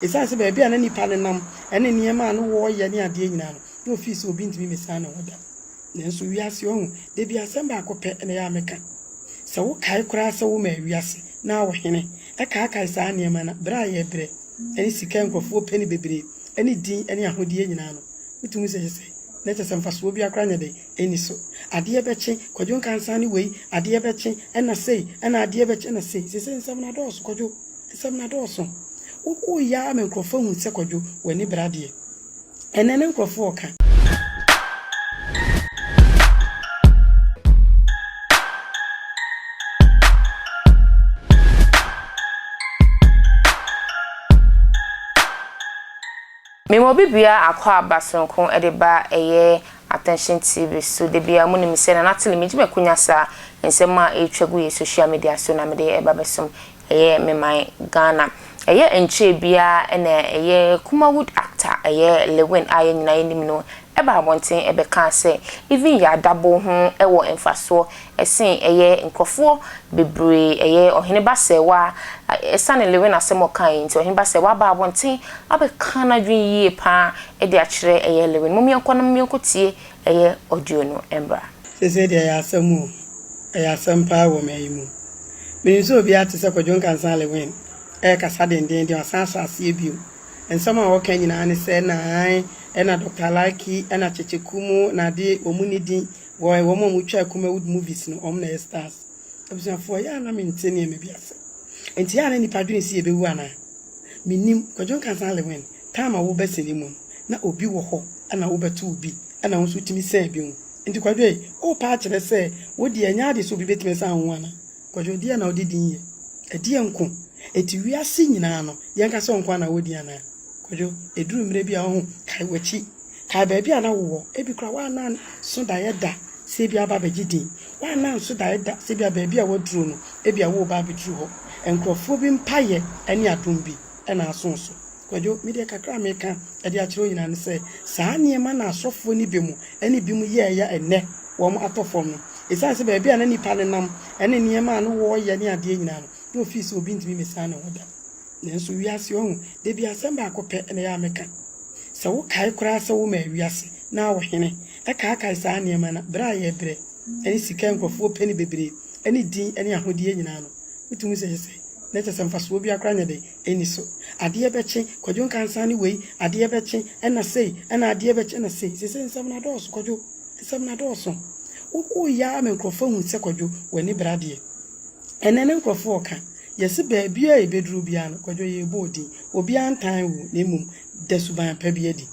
Esiane sɛ baabi a na nnipa nenam ne nneɛma a na wɔyɛ ne adeɛ nyinaa no, na ofii sɛ obi ntumi mmesan ne ho da. Nanso wiase yi, ɔhu, da bi asɛm baako pɛ na ɛyɛ a meka. Sɛ wokae koraa sɛ womaa wiase, na wo hene, kaakae saa nneɛma no a, brɛ a yɛbrɛ, ne sika a nkurɔfoɔ pɛ no bebree, ne din ne ahodeɛ nyinaa no, wotumi hu sɛ ɛyɛ sɛ na kyerɛ sɛ mfasoɔ biara koraa nyɛ dɛn, nni so. Adeɛ bɛkye, Kwadwo Nkansah ne wei, adeɛ bɛkye, ɛnna sei, ɛnna adeɛ bɛkye, ɛnna sei. Seesei nsɛm no adɔɔso, Kwadwo. Nsɛm no adɔɔso. Wokɔɔ yi ara ma nkurɔfoɔ hunuu sɛ Kwadwo, w'ani bere adeɛ. Ɛnnɛ ne nkurɔfoɔ reka. Me ma obi bua akwaaba soronko de ba ɛyɛ Attention TV so da biara. Monim sɛ Nana Tele megye m'akunya saa nsɛm a ɛretwa gu yɛ social media so na mede ɛba bɛsom Ɛyɛ me man Ghana. Ɛyɛ nkyɛɛ biaa ɛna ɛyɛ Kumawood actor ɛyɛ Lewin a yɛn nyinaa yɛnim no ɛba abɔnten ɛbɛkaa sɛ even yɛ adabo ho ɛwɔ mfasoɔ ɛsen ɛyɛ nkorɔfoɔ bebree ɛyɛ Ɔhene Basɛɛwa ɛsane Lewin asɛm a ɔkaa yi nti Ɔhene Basɛɛwa aba abɔnten abɛka nadwene yie paa ɛde akyerɛ ɛyɛ Lewin. Mom yɛnkɔ na mom yɛnkɔ tie ɛyɛ audio no mmra. Seesei deɛ ɛyɛ asɛm o, ɛyɛ asɛm paa wɔ ɔman yi mu. Menim sɛ obiara te sɛ Kwadwo Nkansah Lewin ɛrekasa dendeenden, wasan ahyɛ aseɛ bio. Nsɛm a ɔreka nyinaa ne sɛ na ae, ɛna Doctor Alaki, ɛna Kyekye Kumu, na adeɛ, wɔn nni din, wɔn a wɔtwaa Kumawood movies no, wɔn na ɛyɛ stars. Abusuafoɔ, yɛ a na mente nneɛma bi ase. Enti yɛ a na nnipa dwene sɛ yɛbɛwu anaa? Mennim, Kwadwo Nkansah Alewin, time a wobɛ sene mu no na obi wɔ hɔ ɛna wobɛ to obi ɛna wo nso wotumi sɛn bi ho nti Kwadwo ei wo paa kyerɛ sɛ wo deɛ ɛnyɛ ade sɛ obi bɛtumi asan wo ho ana? Kwadwo deɛ na wode din yɛ ɛdeɛ nko ɛti wiase nyinaa no yɛnka sɛ wo nko ara na wɔ din anaa? Kwadwo ɛduru mmerɛ bi a woahu kae wakyi Kae baabi a na wowɔ. Ebi koraa woanna anso daeɛ da sɛ ebia woaba abɛgye din. Woanna anso daeɛ da sɛ ebia baabi a woaduru no, ebia woreba abɛduru hɔ. Nkurɔfoɔ bi mpaeɛ ne adom bi na asõ wo so. Kwadwo, me deɛ kakra a meka de akyerɛ wo nyinaa ne sɛ, saa nneɛma na asɔfoɔ no bi mu ne binom yɛeɛ ɛnnɛ wɔn atɔ fam no. Ɛsiane sɛ baabi a na nnipa nenam ne nneɛma a na wɔyɛ ne adeɛ nyinaa no, na ofii sɛ obi ntumi mmɛsiane ho da. Nanso wiase ɔhu, da bi asɛm baako pɛ na ɛyɛ a meka. Sɛ wokae koraa sɛ womaa wiase na wo hene kaakae saa nneɛma no a, brɛ a yɛbrɛ ne sika a nkurɔfoɔ pɛ no bebree ne din ne ahodeɛ nyinaa no, wotumi hu sɛ ɛyɛ sɛ na kyerɛ sɛ mfasoɔ biara koraa nyɛ dɛn, ɛnni so. Adeɛ bɛkye, Kwadwo Nkansah ne wei, adeɛ bɛkye, ɛnna sei, ɛnna adeɛ bɛkye, ɛnna sei. Seesei nsɛm no adɔɔso, Kwadwo, nsɛm no adɔɔso. Wo, woyɛ ara ma nkurɔfoɔ ahu sɛ Kwadwo, w'ani bere adeɛ. Ɛnnɛ no nkurɔfoɔ ka, yɛse baabiara a yɛbɛduru biara no, Kwadwo yei bɔɔ din. Obiara ntan wo na mmom da suban pa bi adi.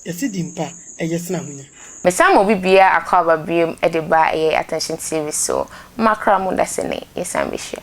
Yɛse din pa, ɛyɛ sene ahonya. Mesan ma obi biara akwaaba biom de ba ɛyɛ Attention TV so. Mommrakra mo da sene yɛsan bɛhyia.